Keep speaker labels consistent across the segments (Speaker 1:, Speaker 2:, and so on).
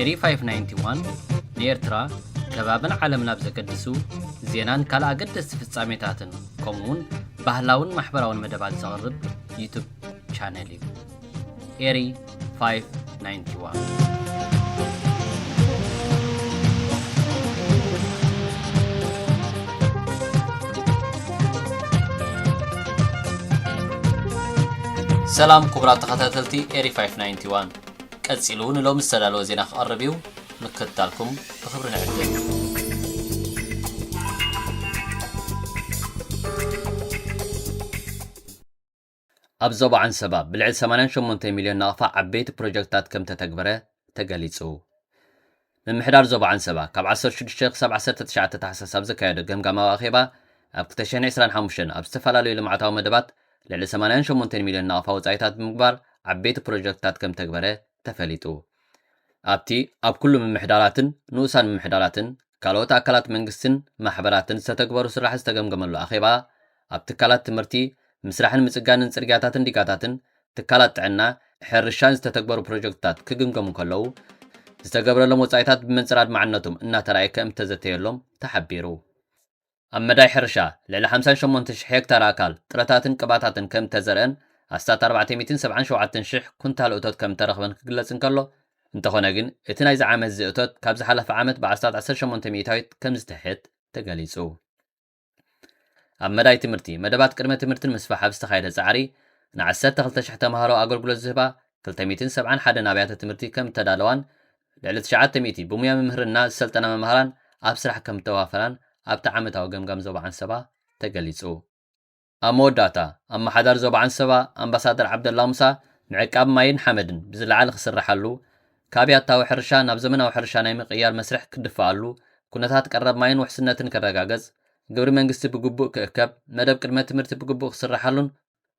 Speaker 1: ኤሪ ፋይፍ ናይንቲ ዋን ንኤርትራ ከባብን ዓለምን ኣብ ዘገድሱ ዜናን ካልእ ኣገደስቲ ፍጻሜታትን ከምኡውን ባህላውን ማሕበራውን መደባት ዘቕርብ ዩቱብ ቻነል እዩ። ኤሪ ፋይፍ ናይንቲ ዋን ሰላም ክቡራት ተኸታተልቲ ኤሪ 591 ቀጺሉ ንሎሚ ዝተዳለወ ዜና ክቐርብ እዩ። ምክትታልኩም ብኽብሪ ንዕድም። ኣብ ዞባ ዓንሰባ ብልዕሊ ሰማንያን ሸሞንተን ሚልዮን ናቕፋ ዓበይቲ ፕሮጀክትታት ከምተተግበረ ተገሊፁ። ምምሕዳር ዞባ ዓንሰባ ካብ ዓሰርተ ሽዱሽተ ክሳብ ዓሰርተ ትሽዓተ ታሕሳስ ኣብ ዘካየዶ ገምጋማዊ ኣኼባ ኣብ ክልተ ሽሕን ዕስራን ሓሙሽተን ኣብ ዝተፈላለዩ ልምዓታዊ መደባት ልዕሊ ሰማንያን ሸሞንተን ሚልዮን ናቕፋ ወፃኢታት ብምግባር ዓበይቲ ፕሮጀክትታት ከምተግበረ ተፈሊጡ። ኣብቲ ኣብ ኩሉ ምምሕዳራትን ንኡሳን ምምሕዳራትን ካልኦት ኣካላት መንግስትን ማሕበራትን ዝተተግበሩ ስራሕት ዝተገምገመሉ ኣኼባ ኣብ ትካላት ትምህርቲ፣ ምስራሕን ምፅጋንን ፅርግያታትን ዲጋታትን፣ ትካላት ጥዕና፣ ሕርሻን ዝተተግበሩ ፕሮጀክትታት ክግምገሙ ከለዉ ዝተገብረሎም ወፃኢታት ብመንፅር ኣድማዕነቶም እናተርኣየ ከምእተዘተየሎም ተሓቢሩ። ኣብ መዳይ ሕርሻ ልዕሊ ሓምሳን ሸሞንትን ሽሕ ሄክታር ኣእካል ጥረታትን ቅባታትን ከምእተዘርአን ኣስታት ኣርባዕተ ሚእትን ሰብዓን ሸውዓተን ሽሕ ኩንታል እቶት ከምእተረኽበን ክግለፅ እንከሎ፣ እንተኾነ ግን እቲ ናይዚ ዓመት'ዚ እቶት ካብ ዝሓለፈ ዓመት ብኣስታት ዓሰርተ ሸሞንተ ሚኢታዊት ከምዝትሕት ተገሊፁ። ኣብ መዳይ ትምህርቲ፣ መደባት ቅድመ ትምህርቲ ንምስፋሕ ኣብ ዝተኻየደ ጻዕሪ፣ ን ዓሰርተ ክልተ ሽሕ ተማሃሮ ኣገልግሎት ዝህባ ክልተ ሚእትን ሰብዓን ሓደን ኣብያተ ትምህርቲ ከም እተዳለዋን ልዕሊ ትሽዓተ ሚእቲ ብሙያ ምምህርና ዝሰልጠና መማህራን ኣብ ስራሕ ከም እተዋፈራን ኣብቲ ዓመታዊ ገምጋም ዞባ ዓንሰባ ተገሊጹ። ኣብ መወዳእታ፣ ኣመሓዳሪ ዞባ ዓንሰባ ኣምባሳደር ዓብደላ ሙሳ፣ ምዕቃብ ማይን ሓመድን ብዝለዓለ ክስረሓሉ፣ ካብ ያታዊ ሕርሻ ናብ ዘመናዊ ሕርሻ ናይ ምቕያር መስርሕ ክድፋኣሉ፣ ኩነታት ቀረብ ማይን ውሕስነትን ክረጋገጽ፣ ግብሪ መንግስቲ ብግቡእ ክእከብ፣ መደብ ቅድመ ትምህርቲ ብግቡእ ክስረሓሉን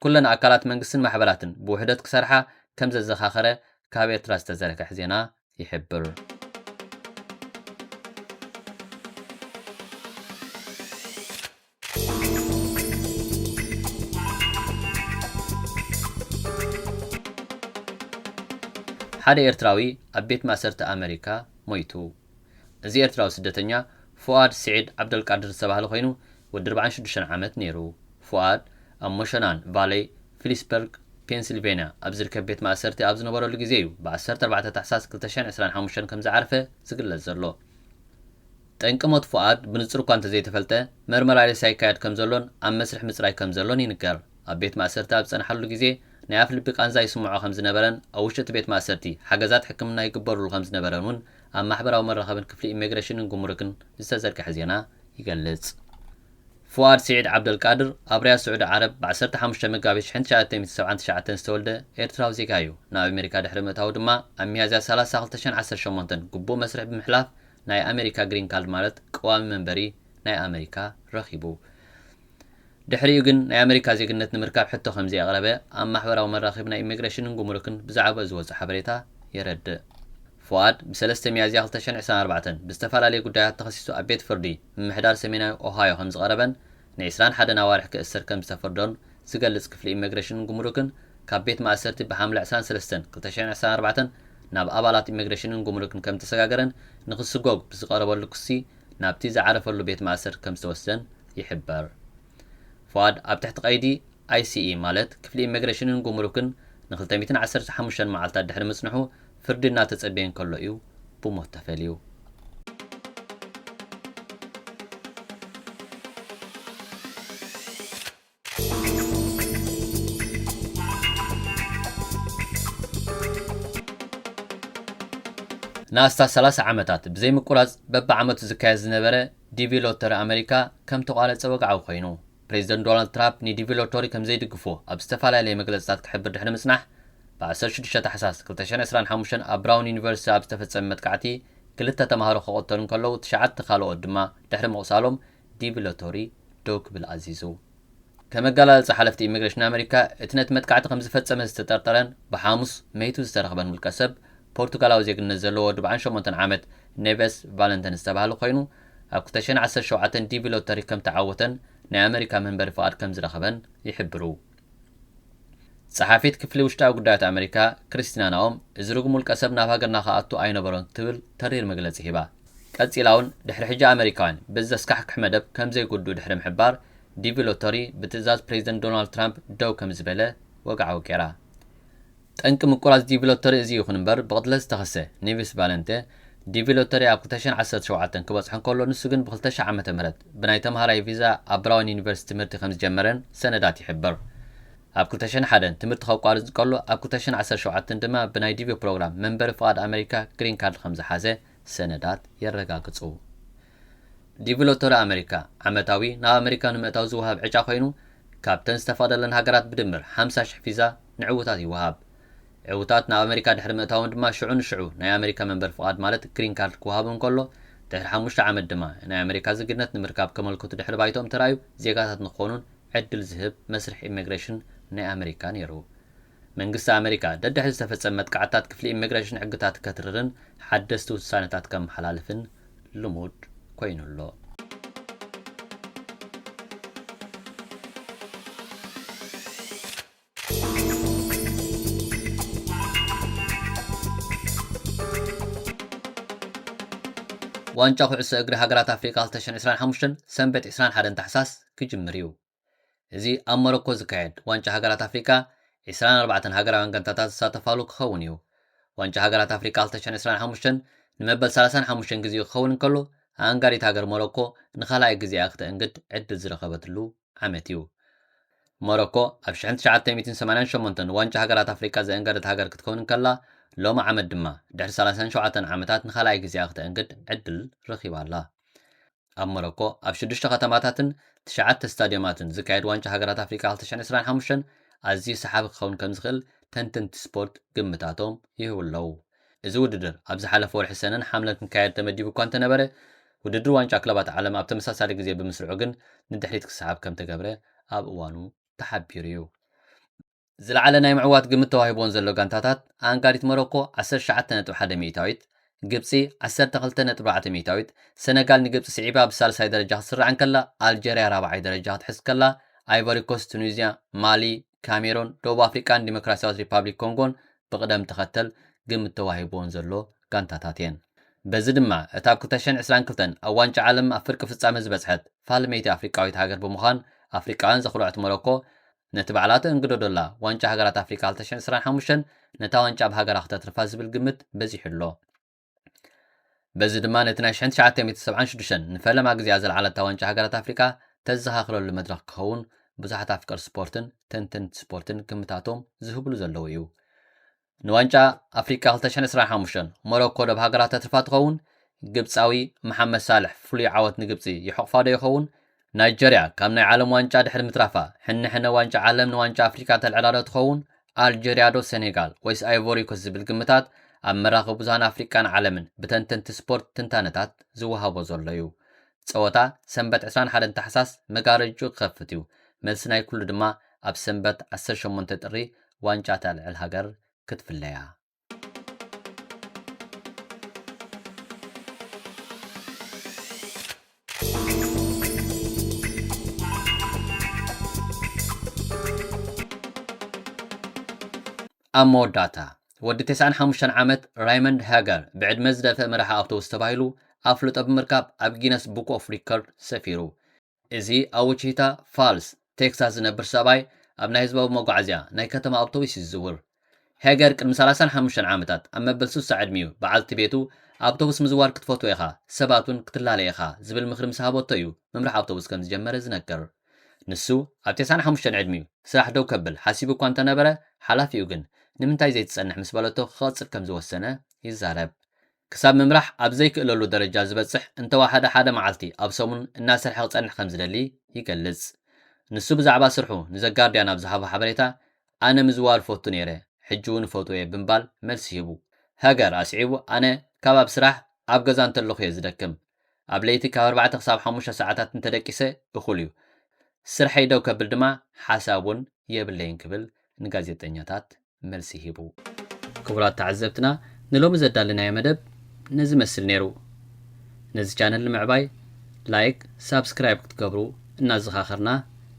Speaker 1: ኩለን ኣካላት መንግስትን ማሕበራትን ብውሕደት ክሰርሓ ከምዘዘኻኸረ ካብ ኤርትራ ዝተዘርግሐ ዜና ይሕብር። ሓደ ኤርትራዊ ኣብ ቤት ማእሰርቲ ኣመሪካ ሞይቱ። እዚ ኤርትራዊ ስደተኛ ፉኣድ ስዒድ ዓብደልቃድር ዝተባህለ ኮይኑ ወዲ ኣርባዓን ሽዱሽተን ዓመት ነይሩ። ፉኣድ ኣብ ሞሸናን ቫለይ ፊሊስበርግ፣ ፔንሲልቨንያ ኣብ ዝርከብ ቤት ማእሰርቲ ኣብ ዝነበረሉ ግዜ'ዩ ብዓሰርተ ኣርባዕተ ታሕሳስ ክልተ ሽሕን ዕስራን ሓሙሽተን ከም ዝዓርፈ ዝግለጽ ዘሎ። ጠንቂ ሞት ፉኣድ ብንጹር እኳ እንተዘይተፈልጠ፣ መርመራ ሬሳ ይካየድ ከም ዘሎን ኣብ መስርሕ ምጽራይ ከም ዘሎን ይንገር። ኣብ ቤት ማእሰርቲ ኣብ ዝጸንሓሉ ግዜ ናይ ኣፍ ልቢ ቃንዛ ይስምዖ ከም ዝነበረን ኣብ ውሽጢ እቲ ቤት ማእሰርቲ ሓገዛት ሕክምና ይግበርሉ ከም ዝነበረን እውን ኣብ ማሕበራዊ መራኸብን ክፍሊ ኢሜግረሽንን ጉምሩክን ዝተዘርግሐ ዜና ይገልጽ። ፉኣድ ስዒድ ዓብደልቃድር፣ ኣብ ሪያድ ስዑዲ ዓረብ ብ ዓሰርተ ሓሙሽተ መጋቢት ሽሕን ትሽዓተን ሚእትን ሰብዓን ትሽዓተን ዝተወልደ ኤርትራዊ ዜጋ እዩ። ናብ ኣሜሪካ ድሕሪ ምእታዉ ድማ ኣብ ሚያዝያ ሰላሳ ክልተ ሽሕን ዓሰርተ ሸሞንተን ግቡእ መስርሕ ብምሕላፍ ናይ ኣሜሪካ ግሪን ካርድ ማለት ቀዋሚ መንበሪ ናይ ኣመሪካ ረኺቡ። ድሕሪኡ ግን ናይ ኣመሪካ ዜግነት ንምርካብ ሕቶ ከምዘይኣቕረበ ኣብ ማሕበራዊ መራኸቢ ናይ ኢሚግሬሽንን ጉምሩክን ብዛዕባኡ ዝወጸ ሓበሬታ የረድእ። ፉኣድ ብሰለስተ ሚያዝያ ክልተ ሽሕን ዕስራን ኣርባዕተን ብዝተፈላለየ ጉዳያት ተኸሲሱ ኣብ ቤት ፍርዲ ምምሕዳር ሰሜናዊ ኦሃዮ ከምዝቐረበን ንዕስራን ሓደን ኣዋርሕ ክእሰር ከምዝተፈርዶን ዝገልጽ ክፍሊ ኢመግሬሽንን ጉምሩክን ካብ ቤት ማእሰርቲ ብሓምለ ዕስራን ሰለስተን ክልተ ሽሕን ዕስራን ኣርባዕተን ናብ ኣባላት ኢመግሬሽንን ጉምሩክን ከምዝተሰጋገረን ንክስጎግ ብዝቐረበሉ ክሲ ናብቲ ዝዓረፈሉ ቤት ማእሰርቲ ከምዝተወስደን ይሕበር። ፉኣድ ኣብ ትሕቲ ቀይዲ ICE ማለት ክፍሊ ኢመግሬሽንን ጉምሩክን ንክልተ ሚእትን ዓሰርተ ሓሙሽተን መዓልታት ድሕሪ ምጽንሑ ፍርዲ እናተጸበየ እንከሎ እዩ ብሞት ተፈልዩ። ንኣስታት ሰላሳ ዓመታት ብዘይምቁራጽ በብዓመቱ ዝካየድ ዝነበረ ዲቪ ሎተሪ ኣመሪካ ከም ተቋረጸ ወግዓዊ ኮይኑ። ፕሬዚደንት ዶናልድ ትራፕ ንዲቪ ሎቶሪ ከምዘይድግፎ ኣብ ዝተፈላለየ መግለፅታት ክሕብር ድሕሪ ምፅናሕ ብ ዓሰርተ ሽዱሽተ ታሕሳስ ክልተ ሽሕን ዕስራን ሓሙሽተን ኣብ ብራውን ዩኒቨርሲቲ ኣብ ዝተፈፀመ መጥቃዕቲ ክልተ ተምሃሮ ክቐተሉ እንከለዉ ትሽዓተ ካልኦት ድማ ድሕሪ ምቑሳሎም ዲቪ ሎቶሪ ደው ክብል ኣዚዙ። ከም ኣገላልፃ ሓለፍቲ ኢሚግሬሽን ኣመሪካ እቲ ነቲ መጥቃዕቲ ከምዝፈፀመ ዝተጠርጠረን ብሓሙስ መይቱ ዝተረኽበን ውልቀሰብ ፖርቱጋላዊ ዜግነት ዘለዎ ወዲ በዓል ሸሞንተ ዓመት ኔቨስ ቫለንተን ዝተብሃለ ኮይኑ ኣብ ክልተ ሽሕን ዓሰርተ ሸውዓተን ዲቪ ሎተሪ ከም ተዓወተን ናይ ኣመሪካ መንበሪ ፍቓድ ከም ዝረኸበን ይሕብሩ። ጸሓፊት ክፍሊ ውሽጣዊ ጉዳያት ኣመሪካ ክሪስቲና ናኦም እዚ ርጉም ውልቀሰብ ናብ ሃገርና ክኣቱ ኣይነበሮን ክትብል ተሪር መግለጺ ሂባ። ቀጺላውን ድሕሪ ሕጂ ኣመሪካውያን በዚ ዘስካሕክሕ መደብ ከም ዘይጉድኡ ድሕሪ ምሕባር ዲቪ ሎተሪ ብትእዛዝ ፕሬዚደንት ዶናልድ ትራምፕ ደው ከም ዝበለ ወግዓዊ ገይራ። ጠንቂ ምቁራጽ ዲቪ ሎተሪ እዚ ይኹን እምበር ብቕትለት ዝተኸሰ፣ ኒቪስ ቫለንተ፣ ዲቪ ሎተሪ ኣብ ክልተ ሽሕን ዓሰርተ ሸውዓተን ክበጽሖ እንከሎ ንሱ ግን ብክልተ ሽሕ ዓመተ ምህረት ብናይ ተምሃራይ ቪዛ ኣብ ብራውን ዩኒቨርሲቲ ትምህርቲ ከምዝጀመረን ሰነዳት ይሕብር። ኣብ ክልተ ሽሕን ሓደን ትምህርቲ ከቋርጽ እንከሎ ኣብ ክልተ ሽሕን ዓሰርተ ሸውዓተን ድማ ብናይ ዲቪ ፕሮግራም መንበሪ ፍቓድ ኣመሪካ፣ ግሪን ካርድ፣ ከምዝሓዘ ሰነዳት የረጋግጹ። ዲቪሎቶሪ ኣመሪካ፣ ዓመታዊ ናብ ኣመሪካ ንምእታው ዝወሃብ ዕጫ ኮይኑ፣ ካብተን ዝተፈቕደለን ሃገራት ብድምር ሓምሳ ሽሕ ቪዛ ንዕዉታት ይወሃብ። ዕዉታት ናብ ኣመሪካ ድሕሪ ምእታዎም ድማ ሽዑ ንሽዑ ናይ ኣመሪካ መንበሪ ፍቓድ ማለት ግሪን ካርድ ክወሃቦም ከሎ፣ ድሕሪ ሓሙሽተ ዓመት ድማ ናይ ኣመሪካ ዜግነት ንምርካብ ከመልክቱ ድሕሪ ባይትኦም ተራእዩ ዜጋታት ንክኾኑን ዕድል ዝህብ መስርሕ ኢሚግሬሽን ናይ ኣመሪካ ነይሩ። መንግስቲ ኣመሪካ፣ ደድሕሪ ዝተፈጸመ መጥቃዕትታት ክፍሊ ኢሚግሬሽን ሕግታት ከትርርን ሓደስቲ ውሳነታት ከመሓላልፍን ልሙድ ኮይኑ ኣሎ። ዋንጫ ኩዕሶ እግሪ ሃገራት ኣፍሪቃ ክልተ ሽሕን ዕስራን ሓሙሽተን ሰንበት ዕስራን ሓደን ታሕሳስ ክጅምር እዩ። እዚ ኣብ ሞሮኮ ዝካየድ ዋንጫ ሃገራት ኣፍሪቃ ዕስራን ኣርባዕተን ሃገራውያን ጋንታታት ዝሳተፋሉ ክኸውን እዩ። ዋንጫ ሃገራት ኣፍሪቃ ክልተ ሽሕን ዕስራን ሓሙሽተን ንመበል ሰላሳን ሓሙሽተን ግዜኡ ክኸውን እንከሎ፣ ኣኣንጋዲት ሃገር ሞሮኮ ንኻልኣይ ግዜኣ ክተእንግድ ዕድል ዝረኸበትሉ ዓመት እዩ። ሞሮኮ ኣብ ሽሕን ትሽዓተ ሚእትን ሰማንያን ሸሞንተን ዋንጫ ሃገራት ኣፍሪቃ ዘእንገደት ሃገር ክትከውን እንከላ፣ ሎሚ ዓመት ድማ ድሕሪ ሰላሳን ሸውዓተን ዓመታት ንኻልኣይ ግዜኣ ክተእንግድ ዕድል ረኺባ ኣላ። ኣብ ሞሮኮ ኣብ ሽዱሽተ ከተማታትን ትሽዓተ ስታድዮማትን ዝካየድ ዋንጫ ሃገራት ኣፍሪቃ ክልተ ሽሕን ዕስራን ሓሙሽተን ኣዝዩ ሰሓቢ ክኸውን ከም ዝኽእል ተንተንቲ ስፖርት ግምታቶም ይህቡ ኣለዉ። እዚ ውድድር ኣብ ዝሓለፈ ወርሒ ሰነን ሓምለን ክካየድ ተመዲቡ እኳ እንተነበረ፣ ውድድር ዋንጫ ክለባት ዓለም ኣብ ተመሳሳሊ ግዜ ብምስርዑ ግን ንድሕሪት ክሰሓብ ከም ተገብረ ኣብ እዋኑ ተሓቢሩ'ዩ። ዝለዓለ ናይ ምዕዋት ግምት ተዋሂቡወን ዘሎ ጋንታታት ኣኣንጋዲት ሞሮኮ ዓሰርተ ትሽዓተ ነጥቢ ሓደ ሚኢታዊት፣ ግብጺ ዓሰርተ ክልተ ነጥቢ ኣርባዕተ ሚኢታዊት፣ ሰነጋል ንግብጺ ስዒባ ብሳልሳይ ደረጃ ክትስራዕ እንከላ ኣልጀርያ ራብዓይ ደረጃ ክትሕዝ ከላ ኣይቮሪኮስት፣ ቱኒዝያ፣ ማሊ፣ ካሜሮን፣ ደቡብ ኣፍሪቃን ዲሞክራስያዊት ሪፓብሊክ ኮንጎን ብቕደም ተኸተል ግምት ተዋሂቡወን ዘሎ ጋንታታት እየን። በዚ ድማ እታ ኣብ ክልተ ሽሕን ዕስራን ክልተን ኣብ ዋንጫ ዓለም ኣብ ፍርቂ ፍጻመ ዝበጽሐት ፋልመይቲ ኣፍሪቃዊት ሃገር ብምዃን ኣፍሪቃውያን ዘኹርዐት ሞሮኮ ነቲ ባዕላ ትእንግዶ ዶላ ዋንጫ ሃገራት ኣፍሪቃ ክልተ ሽሕን ዕስራን ሓሙሽተን ነታ ዋንጫ ኣብ ሃገራ ክተትርፋ ዝብል ግምት በዚሑ ኣሎ። በዚ ድማ ነቲ ናይ ሽሕን ትሽዓተ ሚእትን ሰብዓን ሽዱሽተን ንፈለማ ግዜኣ ዘልዓለታ ዋንጫ ሃገራት ኣፍሪቃ ተዘኻኽረሉ መድረኽ ክኸውን ብዙሓት ኣፍቀርቲ ስፖርትን ተንተንቲ ስፖርትን ግምታቶም ዝህብሉ ዘለዉ እዩ። ንዋንጫ ኣፍሪቃ ክልተ ሽሕን ዕስራን ሓሙሽተን፣ ሞሮኮ ዶብ ሃገራት ተትርፋ ትኸውን? ግብጻዊ መሓመድ ሳልሕ ፍሉይ ዓወት ንግብጺ ይሕቑፋዶ ይኸውን? ናይጀርያ ካብ ናይ ዓለም ዋንጫ ድሕሪ ምትራፋ፣ ሕነ ሕነ ዋንጫ ዓለም ንዋንጫ ኣፍሪቃ ተልዕላዶ ትኸውን? ኣልጀርያዶ ሰኔጋል ወይስ ኣይቮሪኮስ ዝብል ግምታት ኣብ መራኽቢ ብዙሃን ኣፍሪቃን ዓለምን ብተንተንቲ ስፖርት ትንታነታት ዝወሃቦ ዘሎ'ዩ። ጸወታ ሰንበት ዕስራን ሓደን ታሕሳስ መጋረጅኡ ክኸፍት'ዩ። መልሲ ናይ ኩሉ ድማ ኣብ ሰንበት ዓሰርተ ሸሞንተ ጥሪ ዋንጫ እታ ልዕል ሃገር ክትፍለ'ያ። ኣብ መወዳእታ፣ ወዲ ተስዓን ሓሙሽተን ዓመት ራይመንድ ሃገር ብዕድመ ዝደፍእ መራሒ ኣውቶቡስ ተባሂሉ ኣፍልጦ ብምርካብ ኣብ ጊነስ ቡክ ኦፍ ሪከርድ ሰፊሩ። እዚ ኣብ ዊቺታ ፋልስ፣ ቴክሳስ ዝነብር ሰብኣይ ኣብ ናይ ህዝባዊ መጓዓዝያ ናይ ከተማ ኣውቶቡስ እዩ ዝዝውር። ሃገር ቅድሚ ሰላሳን ሓሙሽተን ዓመታት ኣብ መበል ስሳ ዕድሚኡ በዓልቲ ቤቱ ኣውቶቡስ ምዝዋር ክትፈትዎ ኢኻ፣ ሰባት እውን ክትላለይ ኢኻ ዝብል ምኽሪ ምስ ሃበቶ እዩ ምምራሕ ኣውቶቡስ ከም ዝጀመረ ዝነገር። ንሱ ኣብ ቴስዓን ሓሙሽተን ዕድሚኡ ስራሕ ደው ከብል ሓሲቡ እኳ እንተነበረ፣ ሓላፊኡ ግን ንምንታይ ዘይትጸንሕ ምስ በለቶ ክቐጽል ከም ዝወሰነ ይዛረብ። ክሳብ ምምራሕ ኣብ ዘይክእለሉ ደረጃ ዝበጽሕ እንተወሓደ ሓደ መዓልቲ ኣብ ሰሙን እናሰርሐ ክጸንሕ ከም ዝደሊ ይገልጽ። ንሱ ብዛዕባ ስርሑ ንዘጋርድያን ኣብ ዝሃቦ ሓበሬታ፣ ኣነ ምዝዋር እፈቱ ነይረ፣ ሕጂ'ውን እፈትዎ'የ ብምባል መልሲ ሂቡ። ሀገር ኣስዒቡ ኣነ ካብ ኣብ ስራሕ ኣብ ገዛ እንተለኹ'የ ዝደክም፣ ኣብ ለይቲ ካብ ኣርባዕተ ክሳብ ሓሙሽተ ሰዓታት እንተደቂሰ እኹል እዩ። ስርሐይ ደው ከብል ድማ ሓሳብ እውን የብለይን ክብል ንጋዜጠኛታት መልሲ ሂቡ። ክቡራት ተዓዘብትና ንሎሚ ዘዳለናዮ መደብ ነዚ መስል ነይሩ። ነዚ ቻነል ንምዕባይ ላይክ ሳብስክራይብ ክትገብሩ እናዘኻኸርና፣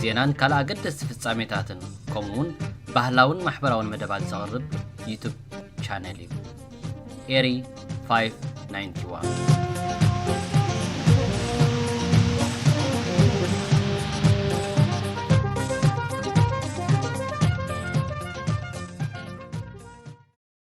Speaker 1: ዜናን ካልእ ኣገደስቲ ፍጻሜታትን ከምኡውን ባህላውን ማሕበራውን መደባት ዘቕርብ ዩቱብ ቻነል እዩ። ኤሪ 591